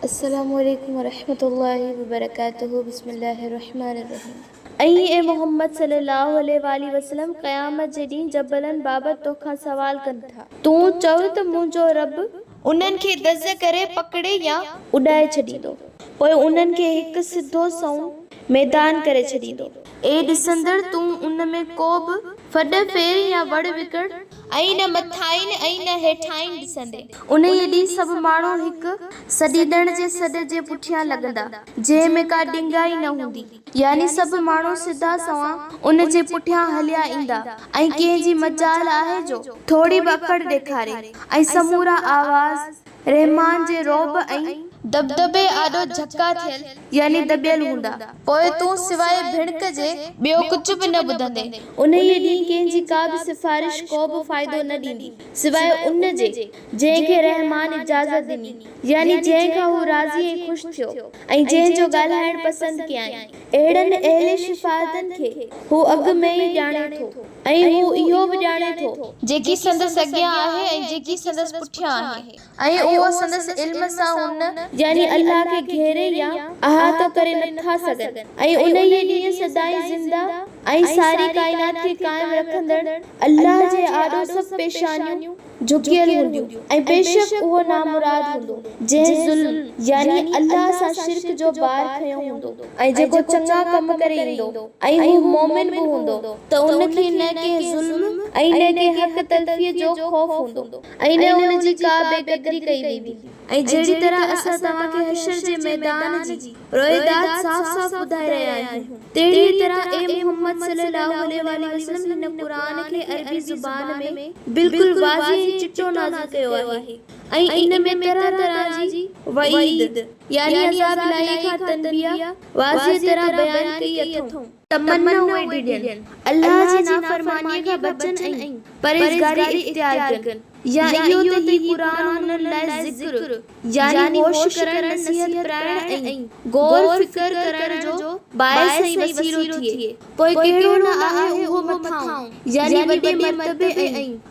السلام عليڪم ورحمة الله وبرڪاته بسم الله الرحمن الرحيم. ۽ اي محمد صلّي اللّٰه عليه واٰله وسلّم قيامت جي ڏينهن جبلن بابت توکان سوال ڪن ٿا. تون چؤ ته منهنجو ربّ انهن کي دز ڪري پڪڙي يا اڏائي ڇڏيندو. پوء انهن کي هڪ سڌو سنئون ميدان ڪري ڇڏيندو. اي ڏسندڙ! تون ان ۾ ڪو به ڦڏ ڦير يا وڙ وڪڙ. ۽ نه مٿاهين ۽ نه هيٺاهين ڏسندين. انهيء ڏينهن سڀ ماڻهو هڪ سڏيندڙ جي سڏ جي پٺيان لڳندا، جنهن ۾ ڪا ڏنگائي نه هوندي. يعني سڀ ماڻهو سڌا سنئون ان جي پٺيان هليا ايندا ۽ ڪنهن جي مجال آهي جو ٿوري به اڪڙ ڏيکاري ۽ سمورا آواز رحمان جي رعب ۽ دٻدٻي آڏو جهڪا ٿيل يعني دٻيل هوندا. پوء تون سواء ڀڻڪ جي ٻيو ڪجهه به نه ٻڌندين. انهيء ڏينهن ڪنهن جي ڪا به سفارش ڪو به فائدو نه ڏيندي سواء ان جي جنهن کي رحمان اجازت ڏني، يعني جنهن کان هو راضي ۽ خوش ٿيو ۽ جنهن جو ڳالهائڻ پسند ڪيائين. اهڙن اهل شفاعتن کي هو اڳ ۾ ئي ڄاڻي ٿو ۽ هو اهو به ڄاڻي ٿو، جيڪي سندس اڳيان آهي ۽ جيڪي سندس پٺيان آهي ۽ اهو سندس علم سان هن، يعني الله، کي گهيري يا احاطو ڪري نه ٿا سگهن ۽ انهيء ڏينهن سدائين زنده ۽ ساري ڪائنات کي قائم رکندڙ الله جي آڏو سڀ پيشانيون جهڪيل هونديون ۽ بيشڪ اهو نامراد هوندو جنهن ظلم، يعني الله سان شرڪ جو بار کنيو هوندو ۽ جيڪو چڱا ڪم ڪري ايندو ۽ هو مؤمن به هوندو ته ان کي نه ڪنهن ظلم ۽ نه ڪنهن حق تلفيء جو خوف هوندو ۽ نه ان جي ڪا بي قدري ڪئي ويندي. ۽ جهڙي طرح اسان توهان کي حشر جي ميدان جي روئداد صاف صاف ٻڌائي رهيا آهيون، تهڙيء طرح اي محمد صلّي اللّٰه عليه واٰله وسلّم هن قرآن کي عربي زبان ۾ بلڪل واضح ۽ چٽو نازل ڪيو آهي ۽ ان ۾ طرح طرح جي وعيد يعني عذاب الاهي کان تنبيهه واضح طرح بيان ڪئي اٿئون. تمنا اهي ڊڄن، الله جي نافرمانيء کان بچن ۽ پرهيزگاري اختيار ڪن، يا اهو ته هي قرآن هنن لاء ذڪر، يعني هوش ڪرڻ، نصيحت پرائڻ ۽ غور و فڪر ڪرڻ جو باعث ۽ وسيلو ٿئي، پوء ڪهڙو نه آهي اهو مٿانهون، يعني وڏي مرتبي ۽